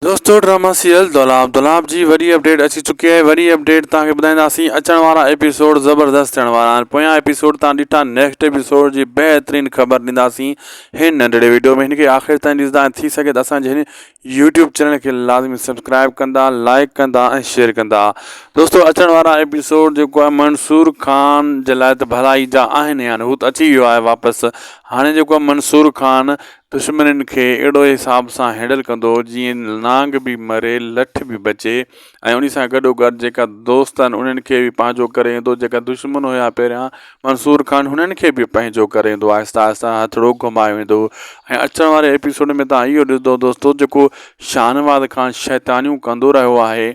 دوستو drama serial Dolab Dolab جي وڏي اپڊيٽ اچي چڪي آهي وڏي اپڊيٽ توهان کي ٻڌائينداسين اچڻ وارا ايپيسوڊ زبردست ٿيڻ وارا آهن پويان ايپيسوڊ توهان ڏٺا نيڪسٽ ايپيسوڊ جي بهترين خبر ڏينداسين هن ننڍڙي ويڊيو ۾ هن کي آخر تائين ڏسندا ۽ ٿي سگهي ته اسان جي هن يوٽيوب چينل کي لازمي سبسڪرائب ڪندا لائڪ ڪندا ۽ شيئر ڪندا دوستو اچڻ وارا ايپيسوڊ جيڪو آهي منصور خان جي لاء ته ڀلائي جا آهن هي هو ته اچي ويو آهي واپس هاڻي جيڪو آهي منصور خان دشمنن کي اهڙو حساب سان هينڊل ڪندو جيئن نانگ به مري لٺ به بچي ۽ انهي سان گڏو گڏ جيڪا دوست آهن انهن کي به پنهنجو ڪري ايندو جيڪا دشمن هيا پهريان منصور خان هنن کي به پنهنجو ڪري ايندو آهستي آهستي هٿڙو گهمايو ويندو ۽ اچڻ واري ايپيسوڊ ۾ تهان اهو ڏسندو دوستو جيڪو شاهنواز خان شيطانيون ڪندو رهيو آهي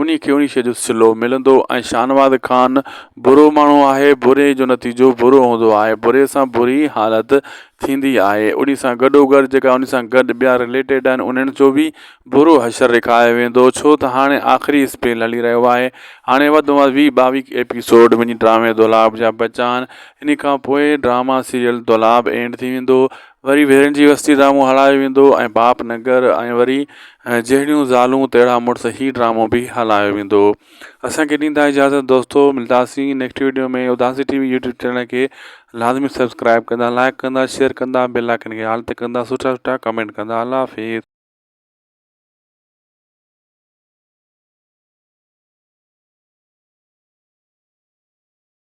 انهي کي انهي شيء جو صلو ملندو ۽ شاهنواز خان برو ماڻهو آهي بري جو نتيجو برو هوندو آهي بري سان بري حالت ٿيندي آهي انهي سان گڏوگڏ جيڪا انهي سان گڏ ٻيا رليٽيڊ آهن انهن جو به برو حشر رکايو ويندو ڇو ته هاڻي آخري اسپيل هلي رهيو آهي هاڻي وڌ ۾ وڌ ويهه ٻاويهه ايپيسوڊ وڃي ڊرامي دولاب جا بچا آهن انهي کان پوء ڊراما سيريل دولاب اينڊ ٿي ويندو وري ڀيرن جي وستي ڊرامو هلايو ويندو ۽ باپ نگر ۽ وري جهڙيون زالون تهڙا مڙس هي ڊرامو به هلايو ويندو اسانکي ڏيندا اجازت دوستو ملداسين next video ۾ Udasi T V YouTube channel کي لازمي سبسڪرائب ڪندا لائڪ ڪندا شيئر ڪندا بيل آئڪن کي آل تي ڪندا سٺا سٺا ڪمينٽ ڪندا الله حافظ